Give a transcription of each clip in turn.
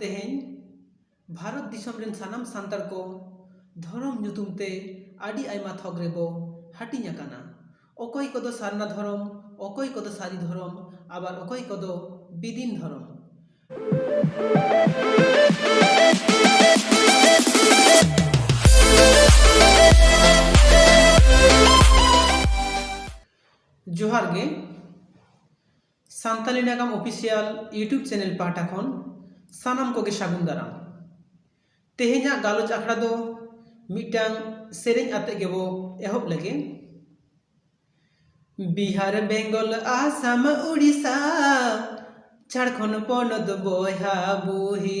ᱛᱮᱦᱮᱧ ᱵᱷᱟᱨᱚᱛ ᱫᱤᱥᱚᱢ ᱨᱮᱱ ᱥᱟᱱᱟᱢ ᱥᱟᱱᱛᱟᱲ ᱠᱚ ᱫᱷᱚᱨᱚᱢ ᱧᱩᱛᱩᱢ ᱛᱮ ᱟᱹᱰᱤ ᱟᱭᱢᱟ ᱛᱷᱚᱠ ᱨᱮᱵᱚ ᱦᱟᱹᱴᱤᱧ ᱟᱠᱟᱱᱟ ᱚᱠᱚᱭ ᱠᱚᱫᱚ ᱥᱟᱨᱱᱟ ᱫᱷᱚᱨᱚᱢ ᱚᱠᱚᱭ ᱠᱚᱫᱚ ᱥᱟᱹᱨᱤ ᱫᱷᱚᱨᱚᱢ ᱟᱵᱟᱨ ᱚᱠᱚᱭ ᱠᱚᱫᱚ ᱵᱤᱫᱤᱱ ᱫᱷᱚᱨᱚᱢ ᱡᱚᱦᱟᱨ ᱜᱮ ᱥᱟᱱᱛᱟᱞᱤ ᱱᱟᱜᱟᱢ ᱚᱯᱷᱤᱥᱤᱭᱟᱞ ᱭᱩᱴᱩᱵᱽ ᱪᱮᱱᱮᱞ ᱯᱟᱦᱴᱟ ᱠᱷᱚᱱ ᱥᱟᱱᱟᱢ ᱠᱚᱜᱮ ᱥᱟᱹᱜᱩᱱ ᱫᱟᱨᱟᱢ᱾ ᱛᱮᱦᱮᱧᱟᱜ ᱜᱟᱞᱚᱪ ᱟᱠᱷᱲᱟ ᱫᱚ ᱢᱤᱫᱴᱟᱝ ᱥᱮᱨᱮᱧ ᱟᱛᱮ ᱜᱮᱵᱚ ᱮᱦᱚᱵ ᱞᱮᱜᱮ᱾ ᱵᱤᱦᱟᱨ ᱵᱮᱝᱜᱚᱞ ᱟᱥᱟᱢ ᱩᱲᱤᱥᱟ ᱡᱷᱟᱲᱠᱷᱚᱸᱰ ᱯᱚᱱᱚᱛ ᱵᱚᱭᱦᱟ ᱵᱩᱦᱤ᱾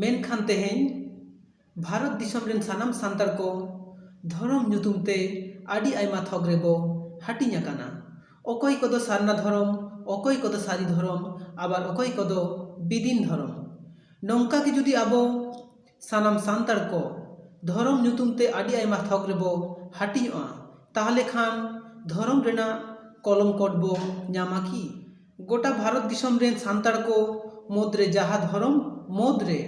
ᱢᱮᱱᱠᱷᱟᱱ ᱛᱮᱦᱮᱧ ᱵᱷᱟᱨᱚᱛ ᱫᱤᱥᱚᱢ ᱨᱮᱱ ᱥᱟᱱᱟᱢ ᱥᱟᱱᱛᱟᱲ ᱠᱚ ᱫᱷᱚᱨᱚᱢ ᱧᱩᱛᱩᱢ ᱛᱮ ᱟᱹᱰᱤ ᱟᱭᱢᱟ ᱛᱷᱚᱠ ᱨᱮᱵᱚ ᱦᱟᱹᱴᱤᱧ ᱟᱠᱟᱱᱟ ᱚᱠᱚᱭ ᱠᱚᱫᱚ ᱥᱟᱨᱱᱟ ᱫᱷᱚᱨᱚᱢ ᱚᱠᱚᱭ ᱠᱚᱫᱚ ᱥᱟᱹᱨᱤ ᱫᱷᱚᱨᱚᱢ ᱟᱵᱟᱨ ᱚᱠᱚᱭ ᱠᱚᱫᱚ ᱵᱤᱫᱤᱱ ᱫᱷᱚᱨᱚᱢ ᱱᱚᱝᱠᱟ ᱜᱮ ᱡᱩᱫᱤ ᱟᱵᱚ ᱥᱟᱱᱟᱢ ᱥᱟᱱᱛᱟᱲ ᱠᱚ ᱫᱷᱚᱨᱚᱢ ᱧᱩᱛᱩᱢ ᱛᱮ ᱟᱹᱰᱤ ᱟᱭᱢᱟ ᱛᱷᱚᱠ ᱨᱮᱵᱚ ᱦᱟᱹᱴᱤᱧᱚᱜᱼᱟ ᱛᱟᱦᱚᱞᱮ ᱠᱷᱟᱱ ᱫᱷᱚᱨᱚᱢ ᱨᱮᱱᱟᱜ ᱠᱚᱞᱚᱢ ᱠᱳᱰ ᱵᱚ ᱧᱟᱢᱟ ᱠᱤ ᱜᱚᱴᱟ ᱵᱷᱟᱨᱚᱛ ᱫᱤᱥᱚᱢ ᱨᱮᱱ ᱥᱟᱱᱛᱟᱲ ᱠᱚ ᱢᱩᱫᱽᱨᱮ ᱡᱟᱦᱟᱸ ᱫᱷᱚᱨᱚᱢ ᱢᱩᱫᱽᱨᱮ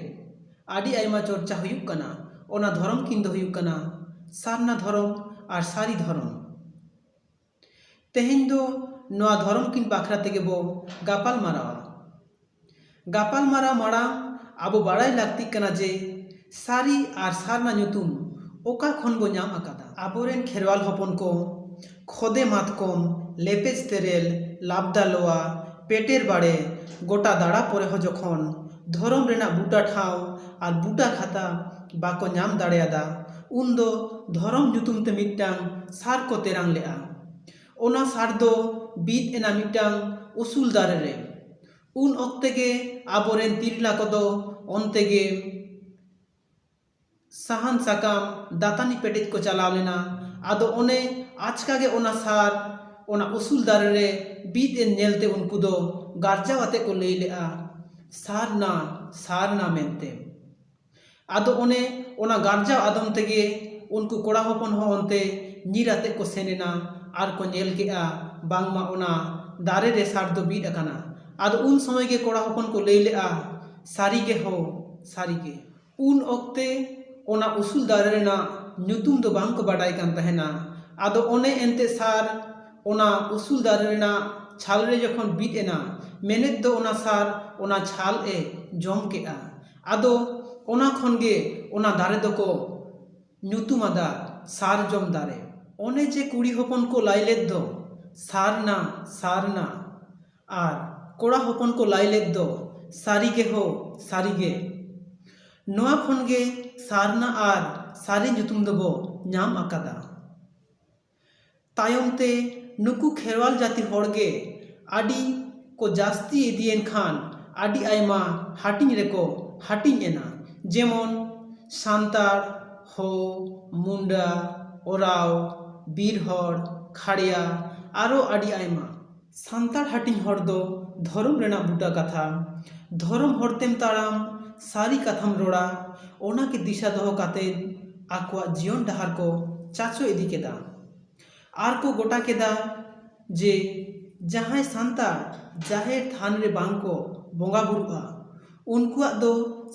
ᱟᱹᱰᱤ ᱟᱭᱢᱟ ᱪᱚᱨᱪᱟ ᱦᱩᱭᱩᱜ ᱠᱟᱱᱟ ᱚᱱᱟ ᱫᱷᱚᱨᱚᱢ ᱠᱤᱱ ᱫᱚ ᱦᱩᱭᱩᱜ ᱠᱟᱱᱟ ᱥᱟᱨᱱᱟ ᱫᱷᱚᱨᱚᱢ ᱟᱨ ᱥᱟᱹᱨᱤ ᱫᱷᱚᱨᱚᱢ ᱛᱮᱦᱮᱧ ᱫᱚ ᱱᱚᱣᱟ ᱫᱷᱚᱨᱚᱢ ᱠᱤᱱ ᱵᱟᱠᱷᱨᱟ ᱛᱮᱜᱮ ᱵᱚ ᱜᱟᱯᱟᱞ ᱢᱟᱨᱟᱣᱟ᱾ ᱜᱟᱯᱟᱞ ᱢᱟᱨᱟᱣ ᱢᱟᱲᱟᱝ ᱟᱵᱚ ᱵᱟᱲᱟᱭ ᱞᱟᱹᱠᱛᱤᱜ ᱠᱟᱱᱟ ᱡᱮ ᱥᱟᱹᱨᱤ ᱟᱨ ᱥᱟᱨᱱᱟ ᱧᱩᱛᱩᱢ ᱚᱠᱟ ᱠᱷᱚᱱ ᱵᱚ ᱧᱟᱢ ᱟᱠᱟᱫᱟ᱾ ᱟᱵᱚ ᱨᱮᱱ ᱠᱷᱮᱨᱣᱟᱞ ᱦᱚᱯᱚᱱ ᱠᱚ ᱠᱷᱚᱫᱮ ᱢᱟᱛᱠᱚᱢ, ᱞᱮᱯᱮᱡ ᱛᱮᱨᱮᱞ, ᱞᱟᱵᱽᱫᱟ ᱞᱚᱣᱟ, ᱯᱮᱴᱮᱨ ᱵᱟᱲᱮ ᱜᱚᱴᱟ ᱫᱟᱬᱟ ᱯᱚᱨᱮ ᱦᱚᱸ ᱡᱚᱠᱷᱚᱱ ᱫᱷᱚᱨᱚᱢ ᱨᱮᱱᱟᱜ ᱵᱩᱴᱟᱹ ᱴᱷᱟᱶ ᱟᱨ ᱵᱩᱴᱟᱹ ᱠᱷᱟᱛᱟ ᱵᱟᱠᱚ ᱧᱟᱢ ᱫᱟᱲᱮᱭᱟᱫᱟ ᱩᱱ ᱫᱚ ᱫᱷᱚᱨᱚᱢ ᱧᱩᱛᱩᱢ ᱛᱮ ᱢᱤᱫᱴᱟᱝ ᱥᱟᱨ ᱠᱚ ᱛᱮᱨᱟᱝ ᱞᱮᱫᱼᱟ᱾ ᱚᱱᱟ ᱥᱟᱨ ᱫᱚ ᱵᱤᱫ ᱮᱱᱟ ᱢᱤᱫᱴᱟᱝ ᱩᱥᱩᱞ ᱫᱟᱨᱮ ᱨᱮ᱾ ᱩᱱ ᱚᱠᱛᱮ ᱜᱮ ᱟᱵᱚ ᱨᱮᱱ ᱛᱤᱨᱞᱟ ᱠᱚ ᱫᱚ ᱚᱱᱛᱮ ᱜᱮ ᱥᱟᱦᱟᱱ ᱥᱟᱠᱟᱢ ᱫᱟᱹᱛᱟᱹᱱᱤ ᱯᱮᱴᱮᱡ ᱠᱚ ᱪᱟᱞᱟᱣ ᱞᱮᱱᱟ᱾ ᱟᱫᱚ ᱚᱱᱮ ᱟᱪᱠᱟ ᱜᱮ ᱚᱱᱟ ᱥᱟᱨ ᱚᱱᱟ ᱩᱥᱩᱞ ᱫᱟᱨᱮ ᱨᱮ ᱵᱤᱫ ᱮᱱ ᱧᱮᱞ ᱛᱮ ᱩᱱᱠᱩ ᱫᱚ ᱜᱟᱨᱡᱟᱣ ᱟᱛᱮ ᱠᱚ ᱞᱟᱹᱭ ᱞᱮᱫᱼᱟ, ᱥᱟᱨ ᱱᱟ, ᱥᱟᱨ ᱱᱟ ᱢᱮᱱᱛᱮ᱾ ᱟᱫᱚ ᱚᱱᱮ ᱚᱱᱟ ᱜᱟᱨᱡᱟᱣ ᱟᱫᱚᱢ ᱛᱮᱜᱮ ᱩᱱᱠᱩ ᱠᱚᱲᱟ ᱦᱚᱯᱚᱱ ᱦᱚᱸ ᱚᱱᱛᱮ ᱧᱤᱨ ᱟᱛᱮ ᱠᱚ ᱥᱮᱱ ᱮᱱᱟ ᱟᱨ ᱠᱚ ᱧᱮᱞ ᱠᱮᱫᱼᱟ ᱵᱟᱝᱢᱟ ᱚᱱᱟ ᱫᱟᱨᱮ ᱨᱮ ᱥᱟᱨ ᱫᱚ ᱵᱤᱫ ᱟᱠᱟᱱᱟ ᱟᱫᱚ ᱩᱱ ᱥᱚᱢᱚᱭ ᱜᱮ ᱠᱚᱲᱟ ᱦᱚᱯᱚᱱ ᱠᱚ ᱞᱟᱹᱭ ᱞᱮᱫᱼᱟ ᱥᱟᱹᱨᱤ ᱜᱮ ᱦᱳ ᱥᱟᱹᱨᱤ ᱜᱮ ᱩᱱ ᱚᱠᱛᱮ ᱚᱱᱟ ᱩᱥᱩᱞ ᱫᱟᱨᱮ ᱨᱮᱱᱟᱜ ᱧᱩᱛᱩᱢ ᱫᱚ ᱵᱟᱝ ᱠᱚ ᱵᱟᱰᱟᱭ ᱠᱟᱱ ᱛᱟᱦᱮᱱᱟ ᱟᱫᱚ ᱚᱱᱮ ᱮᱱᱛᱮᱫ ᱥᱟᱨ ᱚᱱᱟ ᱩᱥᱩᱞ ᱫᱟᱨᱮ ᱨᱮᱱᱟᱜ ᱪᱷᱟᱞ ᱨᱮ ᱡᱚᱠᱷᱚᱱ ᱵᱤᱫ ᱮᱱᱟ ᱢᱮᱱᱮᱫ ᱫᱚ ᱚᱱᱟ ᱥᱟᱨ ᱚᱱᱟ ᱪᱷᱟᱞ ᱮ ᱡᱚᱢ ᱠᱮᱫᱼᱟ ᱟᱫᱚ ᱚᱱᱟ ᱠᱷᱚᱱ ᱜᱮ ᱚᱱᱟ ᱫᱟᱨᱮ ᱫᱚᱠᱚ ᱧᱩᱛᱩᱢ ᱟᱫᱟ ᱥᱟᱨᱡᱚᱢ ᱫᱟᱨᱮ ᱚᱱᱮ ᱡᱮ ᱠᱩᱲᱤ ᱦᱚᱯᱚᱱ ᱠᱚ ᱞᱟᱹᱭ ᱞᱮᱫ ᱫᱚ ᱥᱟᱨᱱᱟ ᱥᱟᱨᱱᱟ ᱟᱨ ᱠᱚᱲᱟ ᱦᱚᱯᱚᱱ ᱠᱚ ᱞᱟᱹᱭ ᱞᱮᱫ ᱫᱚ ᱥᱟᱹᱨᱤ ᱜᱮ ᱦᱳ ᱥᱟᱹᱨᱤ ᱜᱮ ᱱᱚᱣᱟ ᱠᱷᱚᱱ ᱜᱮ ᱥᱟᱨᱱᱟ ᱟᱨ ᱥᱟᱹᱨᱤ ᱧᱩᱛᱩᱢ ᱫᱚᱵᱚ ᱧᱟᱢ ᱟᱠᱟᱫᱟ ᱛᱟᱭᱚᱢ ᱛᱮ ᱱᱩᱠᱩ ᱠᱷᱮᱨᱣᱟᱞ ᱡᱟᱹᱛᱤ ᱦᱚᱲ ᱜᱮ ᱟᱹᱰᱤ ᱠᱚ ᱡᱟᱹᱥᱛᱤ ᱤᱫᱤᱭᱮᱱ ᱠᱷᱟᱱ ᱟᱹᱰᱤ ᱟᱭᱢᱟ ᱦᱟᱹᱴᱤᱧ ᱨᱮᱠᱚ ᱦᱟᱹᱴᱤᱧ ᱮᱱᱟ ᱡᱮᱢᱚᱱ ᱥᱟᱱᱛᱟᱲ ᱦᱳ ᱢᱩᱱᱰᱟ ᱳᱨᱟᱣ ᱵᱤᱨ ᱦᱚᱲ ᱠᱷᱟᱲᱭᱟ ᱟᱨᱚ ᱟᱹᱰᱤ ᱟᱭᱢᱟ ᱥᱟᱱᱛᱟᱲ ᱦᱟᱹᱴᱤᱧ ᱦᱚᱲ ᱫᱚ ᱫᱷᱚᱨᱚᱢ ᱨᱮᱱᱟᱜ ᱵᱩᱴᱟᱹ ᱠᱟᱛᱷᱟ ᱫᱷᱚᱨᱚᱢ ᱦᱚᱨ ᱛᱮᱢ ᱛᱟᱲᱟᱢ ᱥᱟᱹᱨᱤ ᱠᱟᱛᱷᱟᱢ ᱨᱚᱲᱟ ᱚᱱᱟ ᱜᱮ ᱫᱤᱥᱟᱹ ᱫᱚᱦᱚ ᱠᱟᱛᱮ ᱟᱠᱚᱣᱟᱜ ᱡᱤᱭᱚᱱ ᱰᱟᱦᱟᱨ ᱠᱚ ᱪᱟᱪᱳ ᱤᱫᱤ ᱠᱮᱫᱟ ᱟᱨ ᱠᱚ ᱜᱚᱴᱟ ᱠᱮᱫᱟ ᱡᱮ ᱡᱟᱦᱟᱸᱭ ᱥᱟᱱᱛᱟᱲ ᱡᱟᱦᱮᱨ ᱛᱷᱟᱱ ᱨᱮ ᱵᱟᱝ ᱠᱚ ᱵᱚᱸᱜᱟ ᱵᱳᱨᱳᱜᱼᱟ ᱩᱱᱠᱩᱣᱟᱜ ᱫᱚ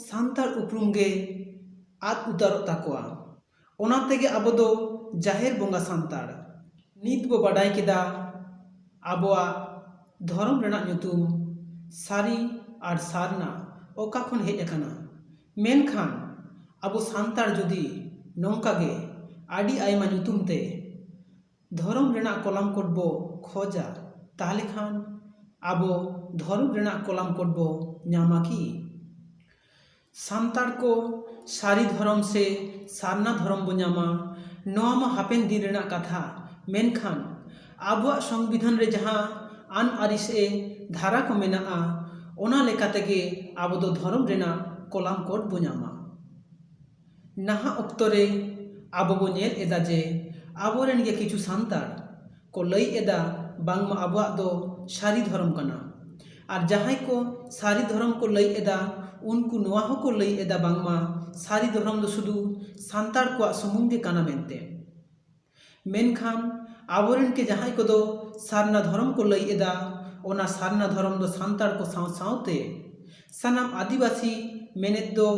ᱥᱟᱱᱛᱟᱲ ᱩᱯᱨᱩᱢ ᱜᱮ ᱟᱫ ᱩᱛᱟᱹᱨᱚᱜ ᱛᱟᱠᱚᱣᱟ ᱚᱱᱟ ᱛᱮᱜᱮ ᱟᱵᱚ ᱫᱚ ᱡᱟᱦᱮᱨ ᱵᱚᱸᱜᱟ ᱥᱟᱱᱛᱟᱲ᱾ ᱱᱤᱛ ᱵᱚ ᱵᱟᱰᱟᱭ ᱠᱮᱫᱟ ᱟᱵᱚᱣᱟᱜ ᱫᱷᱚᱨᱚᱢ ᱨᱮᱱᱟᱜ ᱧᱩᱛᱩᱢ ᱥᱟᱹᱨᱤ ᱟᱨ ᱥᱟᱨᱱᱟ ᱚᱠᱟ ᱠᱷᱚᱱ ᱦᱮᱡ ᱟᱠᱟᱱᱟ᱾ ᱢᱮᱱᱠᱷᱟᱱ ᱟᱵᱚ ᱥᱟᱱᱛᱟᱲ ᱡᱩᱫᱤ ᱱᱚᱝᱠᱟ ᱜᱮ ᱟᱹᱰᱤ ᱟᱭᱢᱟ ᱧᱩᱛᱩᱢ ᱛᱮ ᱫᱷᱚᱨᱚᱢ ᱨᱮᱱᱟᱜ ᱠᱚᱞᱟᱢ ᱠᱳᱰ ᱵᱚ ᱠᱷᱚᱡᱟ ᱛᱟᱦᱞᱮ ᱠᱷᱟᱱ ᱟᱵᱚ ᱫᱷᱚᱨᱚᱢ ᱨᱮᱱᱟᱜ ᱠᱚᱞᱟᱢ ᱠᱳᱰ ᱵᱚ ᱧᱟᱢᱟ ᱠᱤ? ᱥᱟᱱᱛᱟᱲ ᱠᱚ ᱥᱟᱹᱨᱤ ᱫᱷᱚᱨᱚᱢ ᱥᱮ ᱥᱟᱨᱱᱟ ᱫᱷᱚᱨᱚᱢ ᱵᱚᱱ ᱧᱟᱢᱟ ᱱᱚᱣᱟ ᱢᱟ ᱦᱟᱯᱮᱱ ᱫᱤᱱ ᱨᱮᱱᱟᱜ ᱠᱟᱛᱷᱟ ᱢᱮᱱᱠᱷᱟᱱ ᱟᱵᱚᱣᱟᱜ ᱥᱚᱝᱵᱤᱫᱷᱟᱱ ᱨᱮ ᱡᱟᱦᱟᱸ ᱟᱹᱱ ᱟᱹᱨᱤ ᱥᱮ ᱫᱷᱟᱨᱟ ᱠᱚ ᱢᱮᱱᱟᱜᱼᱟ ᱚᱱᱟ ᱞᱮᱠᱟ ᱛᱮᱜᱮ ᱟᱵᱚ ᱫᱚ ᱫᱷᱚᱨᱚᱢ ᱨᱮᱱᱟᱜ ᱠᱚᱞᱟᱢ ᱠᱳᱰ ᱵᱚᱱ ᱧᱟᱢᱟ ᱱᱟᱦᱟᱜ ᱚᱠᱛᱚ ᱨᱮ ᱟᱵᱚ ᱵᱚᱱ ᱧᱮᱞ ᱮᱫᱟ ᱡᱮ ᱟᱵᱚ ᱨᱮᱱ ᱜᱮ ᱠᱤᱪᱷᱩ ᱥᱟᱱᱛᱟᱲ ᱠᱚ ᱞᱟᱹᱭ ᱮᱫᱟ ᱵᱟᱝᱢᱟ ᱟᱵᱚᱣᱟᱜ ᱫᱚ ᱥᱟᱹᱨᱤ ᱫᱷᱚᱨᱚᱢ ᱠᱟᱱᱟ ᱟᱨ ᱡᱟᱦᱟᱸᱭ ᱠᱚ ᱥᱟᱹᱨᱤ ᱫᱷᱚᱨᱚᱢ ᱠᱚ ᱞᱟᱹᱭ ᱮᱫᱟ ᱩᱱᱠᱩ ᱱᱚᱣᱟ ᱦᱚᱸᱠᱚ ᱞᱟᱹᱭ ᱮᱫᱟ ᱵᱟᱝᱢᱟ ᱥᱟᱹᱨᱤ ᱫᱷᱚᱨᱚᱢ ᱫᱚ ᱥᱩᱫᱷᱩ ᱥᱟᱱᱛᱟᱲ ᱠᱚᱣᱟᱜ ᱥᱩᱢᱩᱝ ᱜᱮ ᱠᱟᱱᱟ ᱢᱮᱱᱛᱮ ᱢᱮᱱᱠᱷᱟᱱ ᱟᱵᱚ ᱨᱮᱱ ᱜᱮ ᱡᱟᱦᱟᱸᱭ ᱠᱚᱫᱚ ᱥᱟᱨᱱᱟ ᱫᱷᱚᱨᱚᱢ ᱠᱚ ᱞᱟᱹᱭ ᱮᱫᱟ ᱚᱱᱟ ᱥᱟᱨᱱᱟ ᱫᱷᱚᱨᱚᱢ ᱫᱚ ᱥᱟᱱᱛᱟᱲ ᱠᱚ ᱥᱟᱶ ᱥᱟᱶᱛᱮ ᱥᱟᱱᱟᱢ ᱟᱹᱫᱤᱵᱟᱹᱥᱤ ᱢᱮᱱᱮᱛ ᱫᱚ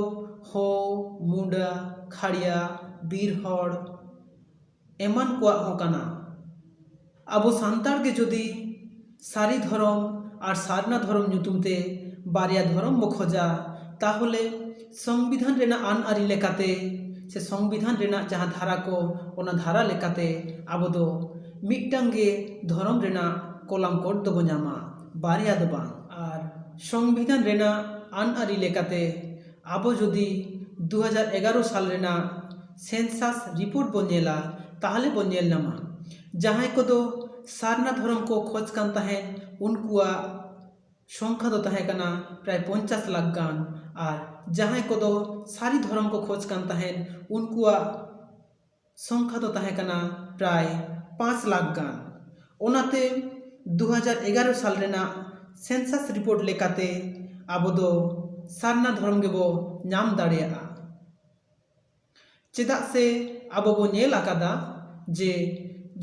ᱦᱳ ᱢᱩᱰᱟᱹ ᱠᱷᱟᱲᱭᱟ ᱵᱤᱨ ᱦᱚᱲ ᱮᱢᱟᱱ ᱠᱚᱣᱟᱜ ᱦᱚᱸ ᱠᱟᱱᱟ ᱟᱵᱚ ᱥᱟᱱᱛᱟᱲ ᱜᱮ ᱡᱩᱫᱤ ᱥᱟᱹᱨᱤ ᱫᱷᱚᱨᱚᱢ ᱟᱨ ᱥᱟᱨᱱᱟ ᱫᱷᱚᱨᱚᱢ ᱧᱩᱛᱩᱢ ᱛᱮ ᱵᱟᱨᱭᱟ ᱫᱷᱚᱨᱚᱢ ᱵᱚᱱ ᱠᱷᱚᱡᱟ ᱛᱟᱦᱚᱞᱮ ᱥᱚᱝᱵᱤᱫᱷᱟᱱ ᱨᱮᱱᱟᱜ ᱟᱹᱱ ᱟᱹᱨᱤ ᱞᱮᱠᱟᱛᱮ ᱥᱮ ᱥᱚᱝᱵᱤᱫᱷᱟᱱ ᱨᱮᱱᱟᱜ ᱡᱟᱦᱟᱸ ᱫᱷᱟᱨᱟ ᱠᱚ ᱚᱱᱟ ᱫᱷᱟᱨᱟ ᱞᱮᱠᱟᱛᱮ ᱟᱵᱚ ᱫᱚ ᱢᱤᱫᱴᱟᱝ ᱜᱮ ᱫᱷᱚᱨᱚᱢ ᱨᱮᱱᱟᱜ ᱠᱚᱞᱟᱢ ᱠᱳᱰ ᱫᱚᱵᱚ ᱧᱟᱢᱟ ᱵᱟᱨᱭᱟ ᱫᱚ ᱵᱟᱝ ᱟᱨ ᱥᱚᱝᱵᱤᱫᱷᱟᱱ ᱨᱮᱱᱟᱜ ᱟᱹᱱ ᱟᱹᱨᱤ ᱞᱮᱠᱟᱛᱮ ᱟᱵᱚ ᱡᱩᱫᱤ ᱫᱩ ᱦᱟᱡᱟᱨ ᱮᱜᱟᱨᱚ ᱥᱟᱞ ᱨᱮᱱᱟᱜ ᱥᱮᱱᱥᱟᱥ ᱨᱤᱯᱳᱨᱴ ᱵᱚᱱ ᱧᱮᱞᱟ ᱛᱟᱦᱚᱞᱮ ᱵᱚᱱ ᱧᱮᱞ ᱧᱟᱢᱟ ᱡᱟᱦᱟᱸᱭ ᱠᱚᱫᱚ ᱥᱟᱨᱱᱟ ᱫᱷᱚᱨᱚᱢ ᱠᱚ ᱠᱷᱚᱡᱽ ᱠᱟᱱ ᱛᱟᱦᱮᱸᱫ ᱩᱱᱠᱩᱣᱟᱜ ᱥᱚᱝᱠᱷᱟ ᱫᱚ ᱛᱟᱦᱮᱸ ᱠᱟᱱᱟ ᱯᱨᱟᱭ ᱯᱚᱧᱪᱟᱥ ᱞᱟᱠᱷ ᱜᱟᱱ ᱟᱨ ᱡᱟᱦᱟᱸᱭ ᱠᱚᱫᱚ ᱥᱟᱹᱨᱤ ᱫᱷᱚᱨᱚᱢ ᱠᱚ ᱠᱷᱚᱡᱽ ᱠᱟᱱ ᱛᱟᱦᱮᱸᱫ ᱩᱱᱠᱩᱣᱟᱜ ᱥᱚᱝᱠᱷᱟ ᱫᱚ ᱛᱟᱦᱮᱸ ᱠᱟᱱᱟ ᱯᱨᱟᱭ ᱯᱟᱸᱪ ᱞᱟᱠᱷ ᱜᱟᱱ ᱚᱱᱟᱛᱮ ᱫᱩ ᱦᱟᱡᱟᱨ ᱮᱜᱟᱨᱚ ᱥᱟᱞ ᱨᱮᱱᱟᱜ ᱥᱮᱱᱥᱟᱥ ᱨᱤᱯᱳᱨᱴ ᱞᱮᱠᱟᱛᱮ ᱟᱵᱚ ᱫᱚ ᱥᱟᱨᱱᱟ ᱫᱷᱚᱨᱚᱢ ᱜᱮᱵᱚ ᱧᱟᱢ ᱫᱟᱲᱮᱭᱟᱜᱼᱟ ᱪᱮᱫᱟᱜ ᱥᱮ ᱟᱵᱚ ᱵᱚ ᱧᱮᱞ ᱟᱠᱟᱫᱟ ᱡᱮ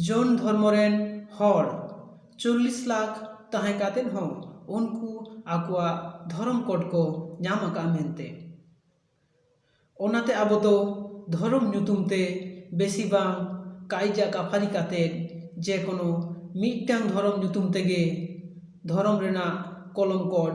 ᱡᱚᱱ ᱫᱷᱚᱨᱢᱚ ᱨᱮᱱ ᱦᱚᱲ ᱪᱚᱞᱞᱤᱥ ᱞᱟᱠᱷ ᱛᱟᱦᱮᱸ ᱠᱟᱛᱮᱫ ᱦᱚᱸ ᱩᱱᱠᱩ ᱟᱠᱚᱣᱟᱜ ᱫᱷᱚᱨᱚᱢ ᱠᱳᱰ ᱠᱚ ᱧᱟᱢ ᱟᱠᱟᱫᱼᱟ ᱢᱮᱱᱛᱮ ᱚᱱᱟᱛᱮ ᱟᱵᱚ ᱫᱚ ᱫᱷᱚᱨᱚᱢ ᱧᱩᱛᱩᱢ ᱛᱮ ᱵᱮᱥᱤ ᱵᱟᱝ ᱠᱟᱭᱡᱟ ᱠᱟᱯᱷᱟᱨᱤ ᱠᱟᱛᱮᱫ ᱡᱮ ᱠᱳᱱᱳ ᱢᱤᱫᱴᱟᱝ ᱫᱷᱚᱨᱚᱢ ᱧᱩᱛᱩᱢ ᱛᱮᱜᱮ ᱫᱷᱚᱨᱚᱢ ᱨᱮᱱᱟᱜ ᱠᱚᱞᱚᱢ ᱠᱳᱰ